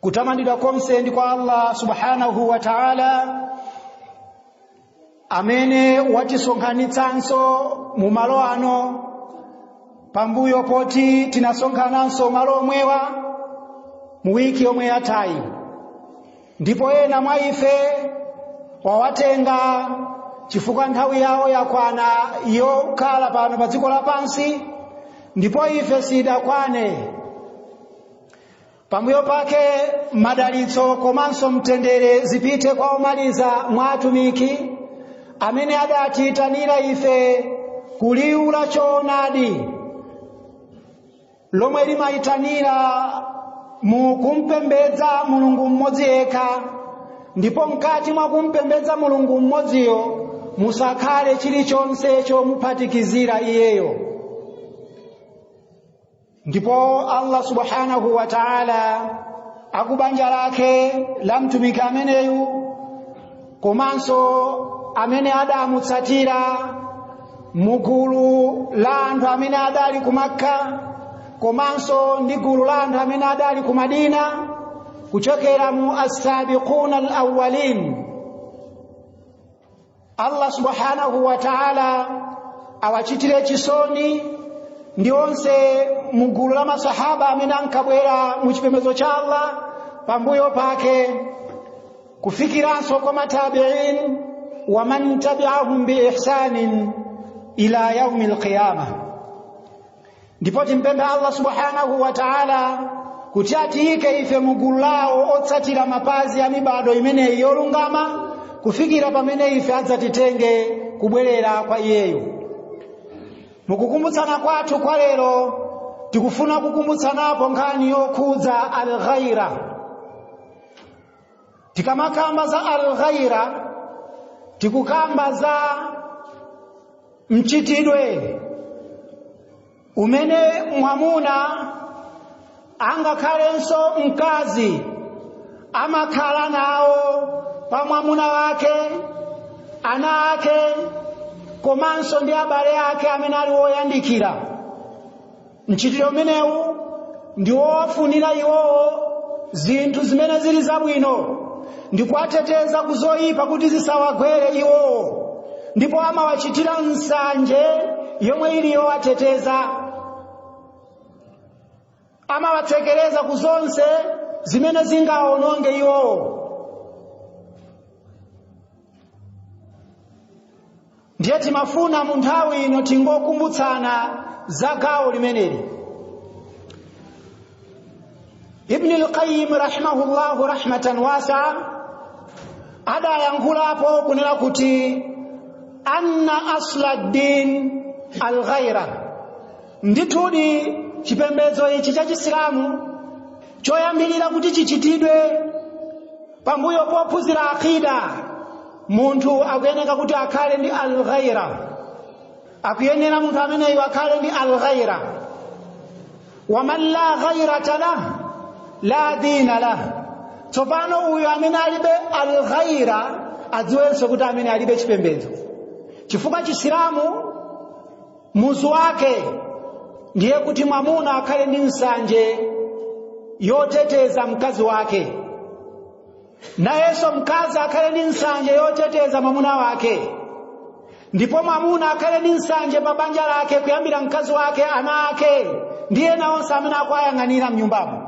kutamandidwa konse ndi kwa allah subhanahu wa taala amene watisonkhanitsanso mu malo ano pambuyo poti tinasonkhananso malo omwewa mu wiki yomwe yathayi ndipo ena mwa ife wawatenga chifukwa nthawi yawo yakwana yokhala pano pa dziko lapansi ndipo ife sidakwane pambuyo pake madalitso komanso mtendere zipite kwa omaliza mwa atumiki amene adatiyitanira ife ku liwu la choonadi lomwe limayitanira mu kumpembedza mulungu mmodzi yekha ndipo mkati mwa kumpembedza mulungu mmodziyo musakhale chilichonse chomuphatikizira iyeyo ndipo allah subhanahu wa taala akubanja lake la mtumiki ameneyu komanso amene adamutsatira mugulu la anthu amene adali ku makka komanso ndi gulu la anthu amene adali ku madina kuchokera mu assabiquna alawwalin allah subhanahu wa taala awachitire chisoni ndi onse mu gulu la masahaba amene ankabwera mu chipembedzo cha allah pambuyo pake kufikiranso kwa matabiin waman tabiahum biihsanin ila yaumi lqiyama ndipo timpemphe allah subhanahu wa taala kuti atiyike ife mu gulu lawo otsatira mapazi a mibado imeneyi yolungama kufikira pamene ife adzatitenge kubwerera kwa iyeyo mukukumbutsana kwathu kwa lero tikufuna kukumbutsanapo nkhani yokhudza alghaira tikamakamba za alghaira tikukamba za mchitidwe umene mwamuna angakhalenso mkazi amakhala nawo pa mwamuna wake ana ake komanso ndi abale ake amene ali woyandikira mchitidwe umenewu ndi wowafunira iwowo zinthu zimene zili zabwino ndi kuwateteza ku zoyipa kuti zisawagwere iwowo ndipo amawachitira nsanje yomwe ili yowateteza amawatsekereza ku zonse zimene zingawawononge iwowo ndiye timafuna mu nthawi ino tingokumbutsana za gawo limeneli ibni lqayim rahimahullahu rahmatan wasaa adayankhulapo kunena kuti anna asla ddin alghaira ndithudi chipembedzo ichi cha chisilamu choyambirira kuti chichitidwe pambuyo pophunzira aqida munthu akuyeneka kuti akhale ndi alghaira akuyenera munthu ameneyo akhale ndi alghaira waman la ghairata lah la dina lah tsopano uyu amene alibe alghaira adziwenso kuti ameneyo alibe chipembedzo chifukwa chisilamu muzu wake ndiye kuti mwamuna akhale ndi nsanje yoteteza mkazi wake nayenso mkazi akhale ndi nsanje yoteteza mwamuna wake ndipo mwamuna akhale ndi nsanje pa banja lake kuyambira mkazi wake ana ake ndi ena onse amene akuwayang'anira mnyumbamo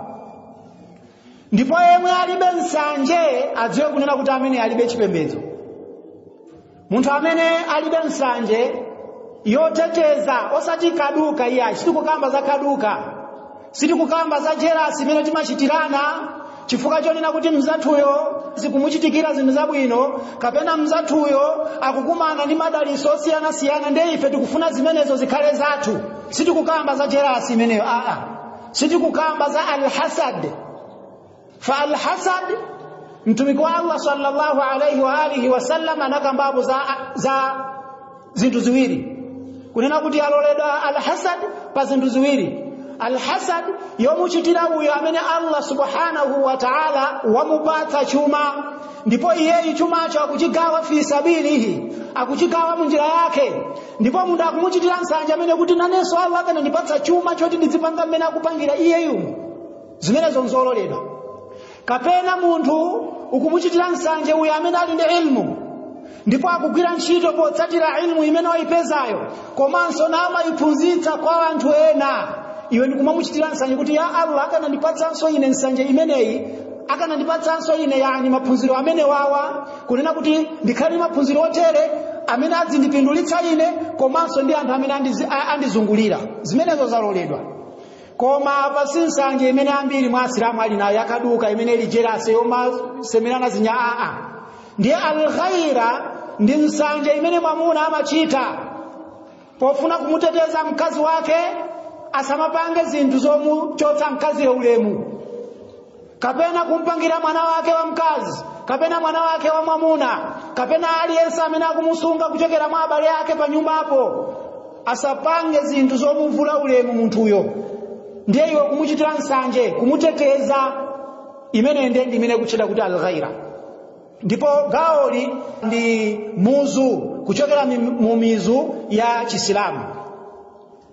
ndipo yemwe alibe nsanje adziwe kunena kuti ameneyo alibe chipembedzo munthu amene alibe nsanje yoteteza osati kaduka iyayi sitikukamba za kaduka sitikukamba za jerasi imene timachitirana chifukwa chonena kuti mzathuyo zikumuchitikira zinthu zabwino kapena mzathuyo akukumana ndi madaliso osiyanasiyana ndiye ife tikufuna zimenezo zikhale zathu sitikukamba za jerasi imeneyo aa sitikukamba za alhasad fa alhasad mtumiki wa allah sallallahu alaihi wa alihi wasallam anakambapo za, za zinthu ziwiri kunena kuti yaloledwa alhasad pa zinthu ziwiri alhasad yomuchitira uyo amene allah subhanahu wa taala wamupatsa chuma ndipo iyeyu chumacho akuchigawa fi sabilihi akuchigawa munjira yake ndipo munthu akumuchitira nsanje ameneyo kuti nanenso allah akanandipatsa chuma choti ndizipanga mmene akupangira iyeyu zimenezo nzololedwa kapena munthu ukumuchitira nsanje uyo amene ali ndi ilmu ndipo akugwira ntchito potsatira ilmu imene wayipezayo komanso namamayiphunzitsa kwa anthu ena iwe ndikumamuchitira nsanje kuti ya allah akanandipatsanso ine nsanje imeneyi akanandipatsanso ine yani maphunziro amenewawa kunena kuti ndikhale ndi maphunziro otere amene adzindipindulitsa ine komanso ndi anthu amene andizi- a- andizungulira zimenezo zaloledwa koma apa si nsanje imene ambiri mwa asilamu ali nayo yakaduka imene ili jerasi yomasemerana zinyau aa ndiye alghaira ndi nsanje imene mwamuna amachita pofuna kumuteteza mkazi wake asamapange zinthu zomuchotsa mkaziyo ulemu kapena kumpangira mwana wake wamkazi kapena mwana wake wamwamuna kapena aliyense amene akumusunga kuchokera mwa abale ake pa nyumbapo asapange zinthu zomuvula ulemu munthuyo ndiye iwe kumuchitira nsanje kumuteteza imene ndiye ndi imene ikutchedwa kuti alghaira ndipo gawoli ndi muzu kuchokera mi- mu mizu ya chisilamu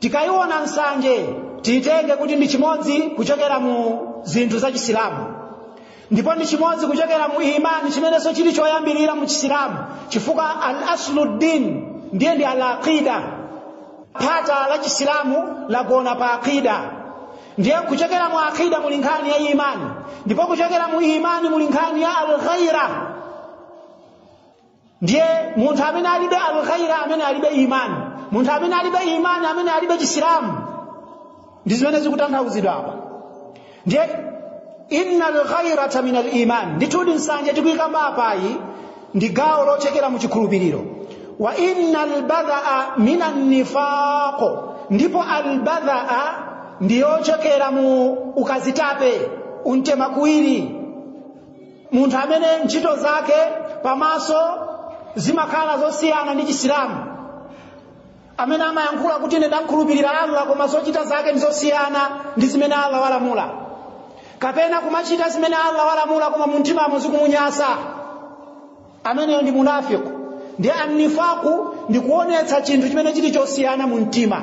tikayiona nsanje tiyitenge kuti ndi chimodzi kuchokera mu zinthu za chisilamu ndipo ndi chimodzi kuchokera mu imani chimenenso chili choyambirira mu chisilamu chifukwa al asluddin ndiye ndi al aqida phata la chisilamu lagona pa aqida ndiye kuchokera mu aqida muli nkhani ya imani ndipo kuchokera mu imani muli nkhani ya alghaira ndiye munthu amene alibe alghaira amene alibe imani munthu amene alibe imani amene alibe chisilamu ndi zimene zikutanthauzidwa apa ndiye inna alghairata min aliman ndithudi nsanje tikuyikamba apayi ndi gawo lochokera mu chikhulupiriro wa inna albadhaa min annifaqo ndipo albadhaa ndiyochokera mu ukazitape untemakuwiri munthu amene ntchito zake pamaso zimakhala zosiyana ndi chisilamu amene amayankhula kuti ine ndakhulupirira allah koma zochita zake ndi zosiyana ndi zimene allah walamula kapena kumachita zimene allah walamula koma mumtimamo zikumunyasa ameneyo ndi munafiku ndiye annifaku ndi kuonetsa chinthu chimene chili chosiyana mu mtima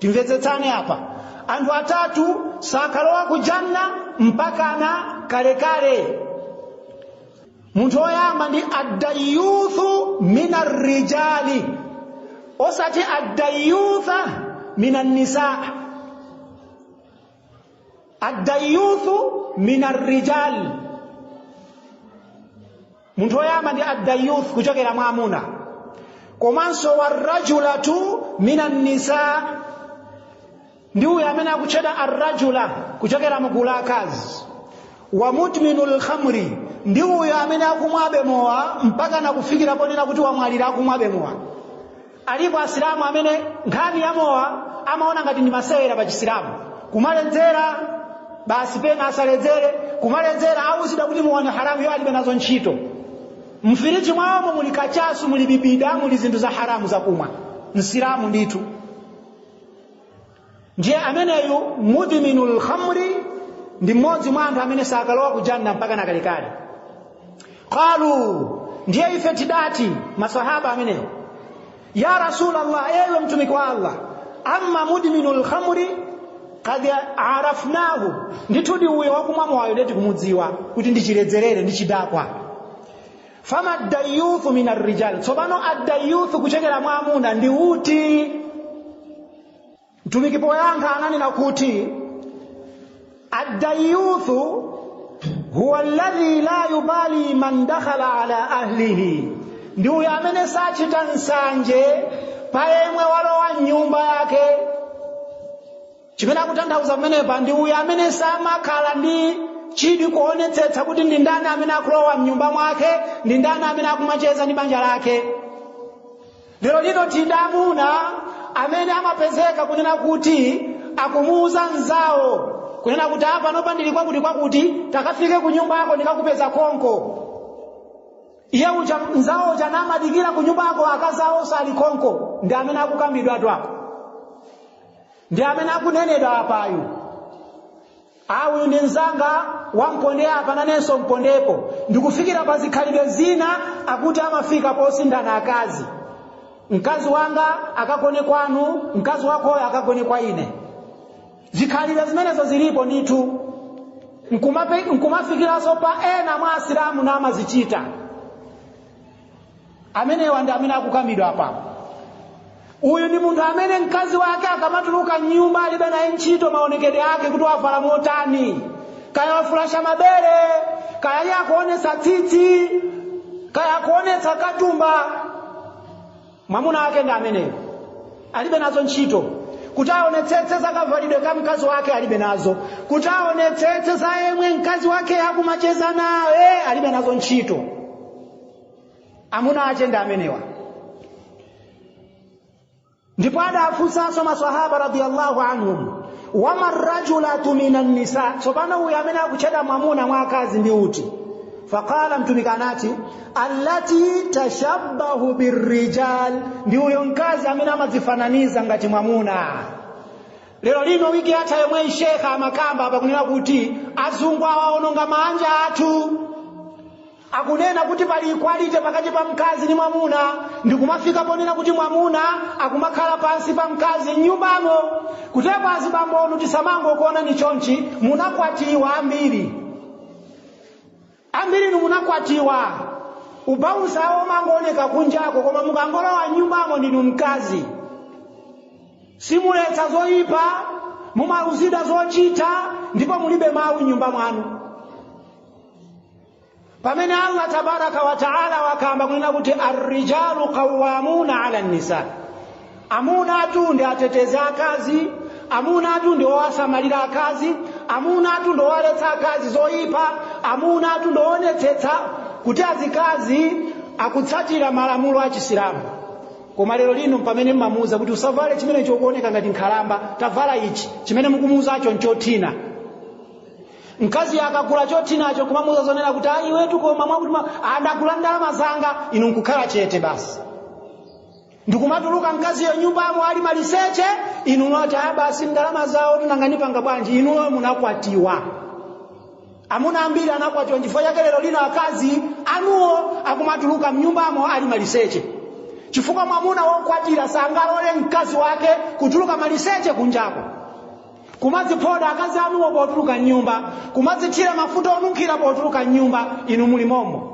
timvetsetsane apa anthu atatu sakalowa ku janna mpakana kalekale munthu woyamba ndi addayuthu min arrijali osati addayutha min annisaa addayuthu min arrijal munthu woyamba ndi addayuth kuchokera mwa amuna komanso warajulatu min annisa ndi uyo amene akutchedwa arrajula kuchokera mugulu la akazi wa mudminu lkhamri ndi uyo amene akumwabe mowa mpaka nakufikira ponena kuti wamwalira akumwabe mowa alipo asilamu amene nkhani ya mowa amaona ngati ndi masewera pa chisilamu kumaledzera basi pena asaledzere kumaledzera auzidwa kuti mowa ndi haramu iwo alibe nazo ntchito mfiriji mwawomo muli kachasu muli bibida muli zinthu za haramu zakumwa msilamu ndithu ndiye ameneyu mudhiminu lkhamri ndi mmodzi mwa anthu amene sakalowa ku janna mpaka nakalekale qalu ndiye ife tidati masahaba ameneyo ya rasulallah ewe mtumiki wa allah amma mudhiminu lkhamri qad arafnahu ndithu di uyo wakumwa mowayo nde tikumudziwa kuti ndichiledzerere ndi chidakwa fama ddayuthu min arrijal tsopano addayuthu kuchokera mwa amuna ndi uti mtumiki poyankha ananena kuti addayuthu huwa alladhi la yubali man dakhala ala ahlihi ndi uyo amene sachita nsanje pa yemwe walowa mnyumba yake chimene akutanthauza pamenepa ndi uyo amene samakhala ndi chidwi kuonetsetsa kuti ndi ndani amene akulowa mnyumba mwake ndi ndani amene akumacheza ndi banja lake lero lino tili ndi amuna amene amapezeka kunena kuti akumuuza nzawo kunena kuti aa panopa ndili kwakuti kwakuti takafike ku nyumba yako ndikakupeza konko iye uja nzawo uja namadikira ku nyumba yako akazawo sali konko ndi amene akukambidwatu apo ndi amene akunenedwa apayu a uyu ndi mzanga wa pondaapa nanenso mpondepo ndikufikira pa zikhalidwe zina akuti amafika posinthana akazi mkazi wanga akagone kwanu mkazi wakoyo akagone kwa ine zikhalidwe zimenezo zilipo ndithu nkumafikiranso pa ena mwa asilamu na amazichita amenewa ndi amene akukambidwa apa uyu ndi munthu amene mkazi wake akamatuluka mnyumba alibe naye ntchito maonekedwe ake kuti wavala motani kaya wafulasha mabere kaya iye akuonetsa tsitsi kaya akuonetsa katumba mwamuna wake ndi ameneyo alibe nazo ntchito kuti aonetsetse za kavalidwe ka mkazi wake alibe nazo kuti aonetsetse za yemwe mkazi wake akumacheza naye alibe nazo ntchito amuna ache ndi amenewa ndipo adafunsanso masahaba radiyallahu anhum wama rajulatu minan nisa tsopano uyu amene akutchedwa mwamuna mwa akazi ndi uti faqala mtumiki anati allati tashabbahu birrijal ndi uyo mkazi amene amadzifananiza ngati mwamuna lero lino wiki yatha yomweyi shekha amakamba apa kunena kuti azungu awaononga maanja athu akunena kuti pali equality pakati pa mkazi ndi mwamuna ndikumafika ponena kuti mwamuna akumakhala pansi pa mkazi mnyumbamo kutero azibambonu tisamangokuona ni chonchi munakwatiwa ambiri ambirinu munakwatiwa ubosi wawo umangooneka kunjako koma mukangolowa mnyumbamo ndinu mkazi simuletsa zoyipa mumauzidwa zochita ndipo mulibe mawu mnyumba mwanu pamene allah tabaraka wa taala wakamba kunena kuti arrijalu qawamuna ala nisa amuna atu ndi atetezi akazi amuna atu ndi owasamalira akazi amuna atu ndi owaletsa akazi zoyipa amuna atu ndi owonetsetsa kuti azikazi akutsatira malamulo a chisilamu koma lero lino pamene mmamuuza kuti usavale chimenecho ukuoneka ngati nkhalamba tavala ichi chimene mukumuuzacho nchothina mkazi akagula chothinacho kumamuuza zonena kuti ayi wetu pomwa mwakuti mwa- andagula ndalama zanga inu nkukhala chete basi ndikumatuluka mkaziyo nyumbamo ali maliseche inu mwati aya basi ndalama zawo nanga ndipanga bwanji inuyo munakwatiwa amuna ambiri anakwatiwa chifukwa chake lero lino akazi anuwo akumatuluka mnyumbamo ali maliseche chifukwa mwamuna wokwatira sangalole mkazi wake kutuluka maliseche kunjako kumadziphoda akazi anuwo potuluka mnyumba kumadzithira mafuta onunkhira potuluka mnyumba inu muli momo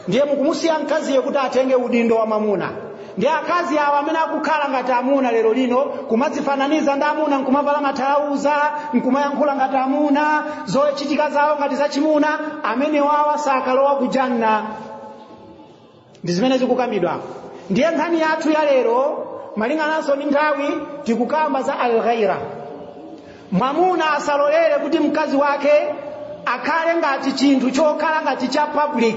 ndiye mukumusiya mkaziyo kuti atenge udindo wa mamuna ndi akazi awo amene akukhala ngati amuna lero lino kumadzifananiza ndi amuna nkumavala mathalauza nkumayankhula ngati amuna zochitika zawo ngati zachimuna amenewa awa sakalowa kujanna ndi zimene zikukambidwa ndiye nkhani yathu ya lero malingananso ndi nthawi tikukamba za alghaira mwamuna asalolere kuti mkazi wake akhale ngati chinthu chokhala ngati cha public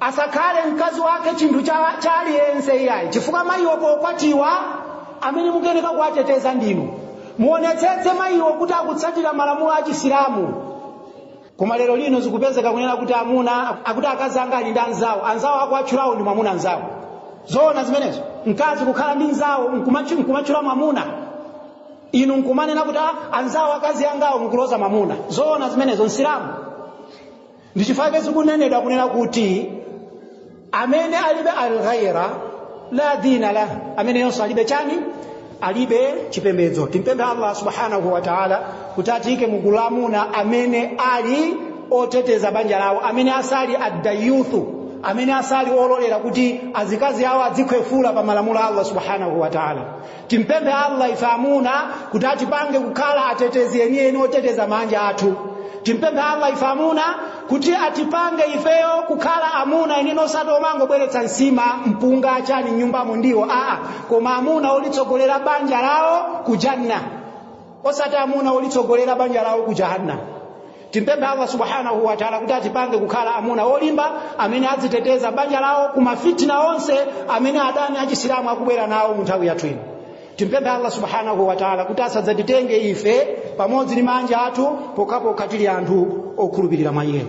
asakhale mkazi wake chinthu cha, cha aliyense iyayi chifukwa mayiwo pokwatiwa amene mukuyeneka kuwateteza ndinu muonetsetse mayiwo kuti akutsatira malamulo a chisilamu koma lero lino zikupezeka kunena kuti amuna akuti akazi anga ali ndi anzawo anzawo akuwatchulawo ndi mwamuna nzawo zoona zimenezo mkazi kukhala ndi nzawo nkumatchu- nkumatchula mwamuna inu nkumanena kuti "Ah, anzawo akazi angawo mukuloza mwamuna zoona zimenezo msilamu ndi chifukwa chake zikunenedwa kunena kuti amene alibe alghaira la dina lah ameneyonso alibe chani alibe chipembedzo timpemphe allah subhanahu wa taala kuti atiyike mugulu la amuna amene ali oteteza banja lawo amene asali addayuthu amene asali ololera kuti azikazi awo adzikhwefula pa malamulo a allah subhanahu wa taala timpemphe allah ife amuna kuti atipange kukhala atetezi enieni oteteza maanja athu timpemphe allah ife amuna kuti atipange ifeyo kukhala amuna enieni osati omangobweretsa nsima mpunga chani mnyumbamo ndiwo aa koma amuna olitsogolera banja lawo ku janna osati amuna olitsogolera banja lawo ku jahannam timpemphe allah subhanahu wataala kuti atipange kukhala amuna olimba amene adziteteza banja lawo ku mafitina onse amene adani achisilamu akubwera nawo mu nthawi yathu ino timpemphe allah subhanahu wataala kuti asadzatitenge ife pamodzi ndi maanja athu pokhapokha tili anthu okhulupirira mwa iyeyo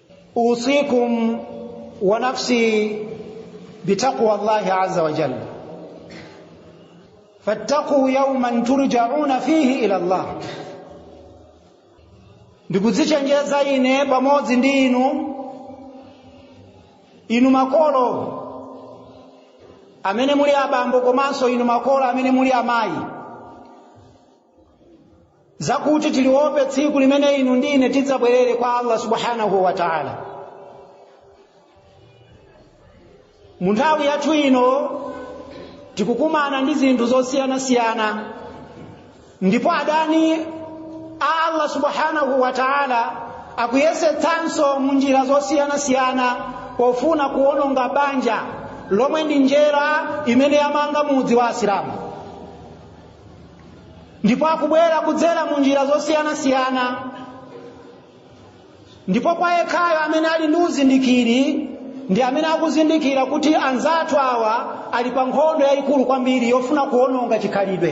usikum wa nafsi bitaqwa llahi aza wajal fattaquu yauman turjauna fihi ila llah ndikudzichenjeza ine pamodzi ndi inu inu makolo amene muli abambo komanso inu makolo amene muli amayi zakuti tiliope tsiku limene inu ndi ine tidzabwerere kwa allah subhanahu wa taala mu nthawi yathu ino tikukumana ndi zinthu zosiyanasiyana ndipo adani a allah subhanahu wa taala akuyesetsanso mu njira zosiyanasiyana pofuna kuwononga banja lomwe ndi njerwa imene yamanga mudzi wa asilamu ndipo akubwera kudzera mu njira zosiyanasiyana ndipo kwa yekhayo amene ali ndi uzindikiri ndi amene akuzindikira kuti anzathu awa ali pa nkhondo yayikulu kwambiri yofuna kuwononga chikhalidwe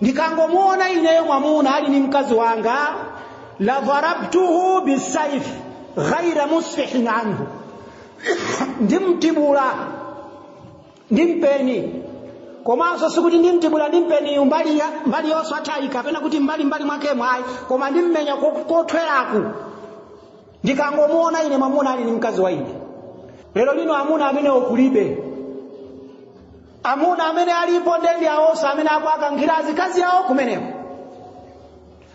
ndikangomuona ineyo mwamuna ali ni mkazi wanga la dharabtuhu bisaif ghaira musfihin anhu ndimtibula ndi mpeni komanso sikuti ndimtibula ndi mpeni mbali yosathwayi kapena kuti mbali mwakemu ayi koma ndimmenya kothweraku ndikangomuona ine mwamuna ali ni mkazi wa ine lero lino amuna amenewo kulibe amuna amene alipo nde ndi awonso amene akuwakankhira azikazi awo kumeneko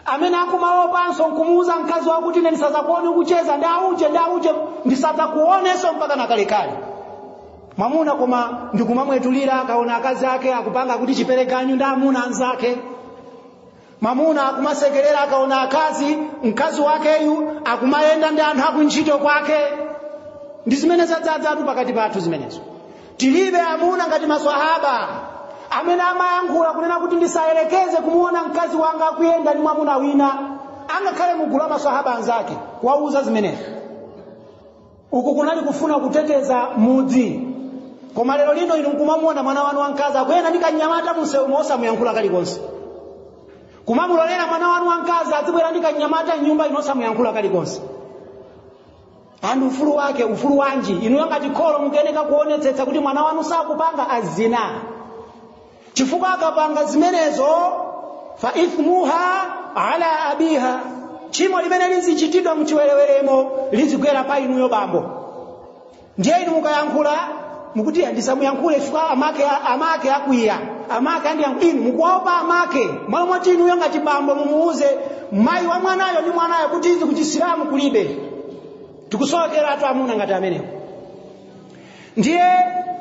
amene akumaopanso nkumuuza mkazi wawo kuti ine ndisazakuone ukucheza ndi auje ndi auje ndisazakuonenso mpaka nakalekale mwamuna koma ndikumamwetulira akaona akazi ake akupanga kuti chiperekaganyu ndi amuna anzake mwamuna akumasekerera akaona akazi mkazi wakeyu akumayenda ndi anthu akuntchito kwake ndi zimene zadzadzatu pakati pathu zimenezo tilibe amuna ngati maswahaba amene amayankhula kunena kuti ndisayerekeze kumuona mkazi wanga akuyenda ndi mwamuna wina angakhale mugulu la maswahaba anzake kuwauza zimenezo uku kunali kufuna kuteteza mudzi koma lero lino inu nkumamuona mwana wanu wamkazi akuyenda ndi kanyamata munsewumo osamuyankhula kalikonse kumamulolera mwana wanu wamkazi azibwera ndi kanyamata mnyumba inu osamuyankhula kalikonse ati ufulu wake ufulu wanji inuyo ngati kholo mukuyeneka kuonetsetsa kuti mwana wanu sakupanga azina chifukwa akapanga zimenezo fa ithmuha ala abiha tchimo limene lizichitidwa mchiwereweremo lizigwera pa inuyo bambo ndiye inu mukayankhula mukuti ndisamuyankhule chifukwa amake akwiya amake andiyankhula inu mukuopa amake malo moti inuyo ngati bambo mumuuze mayi wa mwanayo ndi mwanayo kuti izi kuchisilamu kulibe tikusowekeratu amuna ngati amenewo ndiye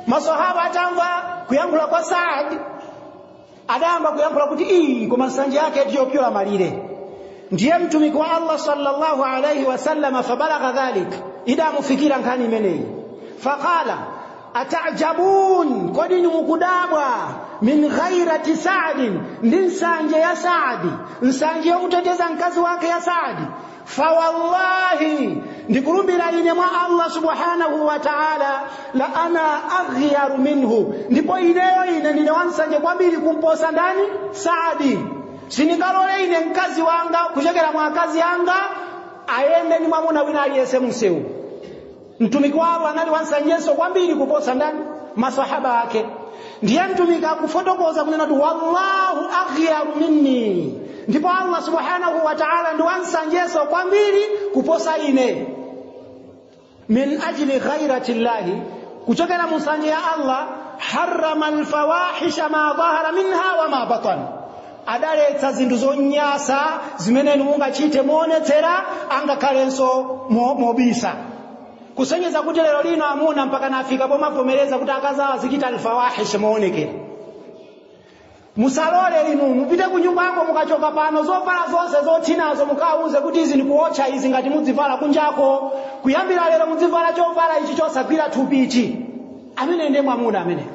masahaba atamva kuyankhula kwa saad adayamba kuyankhula kuti iyi koma nsanje yake ndiyopyola malire ndiye mtumiki wa allah sallallahu alaihi wasallam fabalagha dhalik idamufikira nkhani imeneyi faqala atajabun kodi inu mukudabwa min ghairati saadin ndi nsanje ya saadi nsanje yomuteteza mkazi wake ya saadi fawallahi ndikulumbira ine mwa allah subhanahu wa taala la ana aghyaru minhu ndipo ineyo ine ndine wansanje kwambiri kumposa ndani saadi sindingalole ine mkazi wanga kuchokera mwa akazi anga ayende ndi mwamuna wina aliyense msewu mtumiki wa allah anali wansanjeso kwambiri kuposa ndani masahaba ake ndiye mtumiki akufotokoza kunena kuti wallahu aghyaru minni ndipo allah subhanahu wa taala ndi wansanjeso kwambiri kuposa ine min ajli ghairati llahi kuchokera mu nsanje ya allah harrama alfawahisha ma dhahara minha wa ma batana adaletsa zinthu zonyansa zimene inu mungachite moonetsera angakhalenso mo- mobisa kusonyeza kuti lero lino amuna mpaka nafika pomavomereza kuti akazi awo azichita alfawahish moonekera musalole inu mupite ku nyumbako mukachoka pano zovala zonse zothinazo mukawauze kuti izi ndikuotcha izi ngati mudzivala kunjako kuyambira lero mudzivala chovala ichi chosagwira thupi ichi amene ndiye mwamuna ameneyo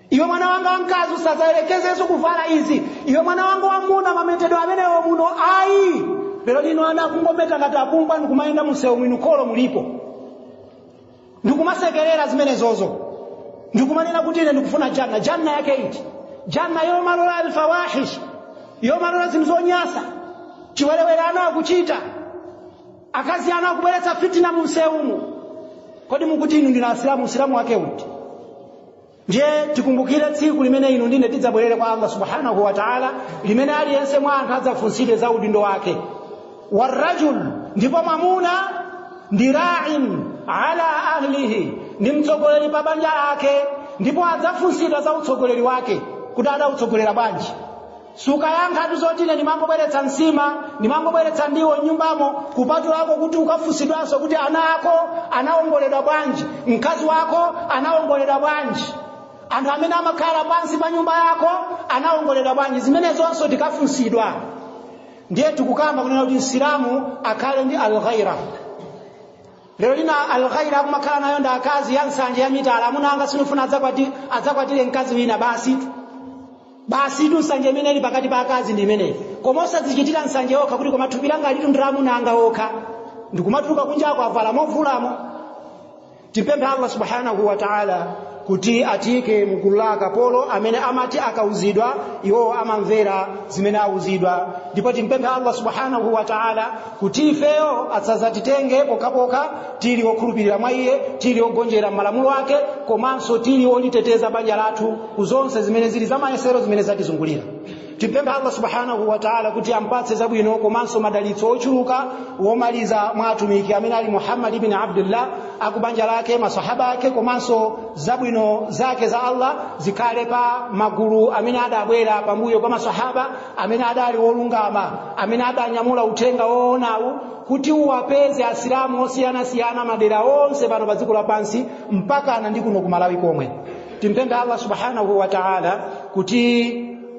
iwe mwana wanga wamkazi usadzayerekezenso kuvala izi iwe mwana wanga wamuna mametedwe amenewo muno ayi lero lino ana akungometa ngati apumbwa ndikumayenda mumsewu inu kholo mulipo ndikumasekerera zimenezozo ndikumanena kuti ine ndikufuna janna janna yake iti janna yomalola alfawahish yomalola zinthu zonyasa chiwerewere ana akuchita akazi ana akubweretsa fitina mumsewumu kodi mukuti inu ndi asilamu usilamu wake uti ndiye tikumbukire tsiku limene inu ndine tidzabwerere kwa allah subhanahu wa taala limene aliyense mwa anthu adzafunsidwe za udindo wake warrajul ndipo mwamuna ndi rain ala ahlihi ndi mtsogoleri pa banja lake ndipo adzafunsidwa za utsogoleri wake kuti adautsogolera bwanji sukayankhatu zoti ine ndimangobweretsa nsima ndimangobweretsa ndiwo nyumbamo kupatulako kuti ukafunsidwanso kuti ana ako anawongoledwa bwanji mkazi wako anawongoledwa bwanji anthu amene amakhala pansi pa nyumba yako anawongoledwa bwanji zimenezonso tikafunsidwa ndiye tikukamba kunena kuti msilamu akhale ndi alghaira lero lino alghaira akumakhala nayo ndi akazi ya nsanje ya mitala amuna anga sindifuna adzakwatire mkazi wina basi basi tu nsanje imene ili pakati pa akazi ndi imeneyi koma osadzichitira nsanje okha kuti koma thupi langa ilitu ndi la amuna anga okha ndikumatuluka kunjako avala movulamo timpemphe allah subhanahu wa taala kuti atiike mgulu la akapolo amene amati akauzidwa iwowo amamvera zimene auzidwa ndipo timpemphe allah subhanahu wa taala kuti ifeyo asadzatitenge pokhapokha tili okhulupirira mwa iye tili ogonjera malamulo ake komanso tili oliteteza banja lathu ku zonse zimene zili za mayesero zimene zatizungulira timpemphe allah subhanahu wa taala kuti ampatse zabwino komanso madalitso ochuluka womaliza mwa atumiki amene ali muhammad ibn abdullah akubanja lake masahaba ake komanso zabwino zake za allah zikhale pa magulu amene adabwera pambuyo pa masahaba amene adali olungama amene adanyamula uthenga woonawu kuti uwapeze asilamu osiyanasiyana madera onse pano pa dziko lapansi mpakana ndi kuno ku malawi komwe timpemphe allah subhanahu wa taala kuti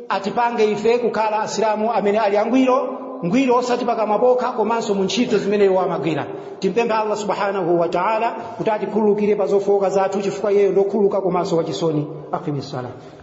atipange ife kukhala asilamu amene ali angwiro ngwiro osati pakamwa pokha komanso mu ntchito zimene iwo amagwira timpemphe allah subhanahu wa taala kuti atikhululukire pa zofowoka zathu chifukwa iyeyo ndokhululuka komanso wachisoni aqimissalat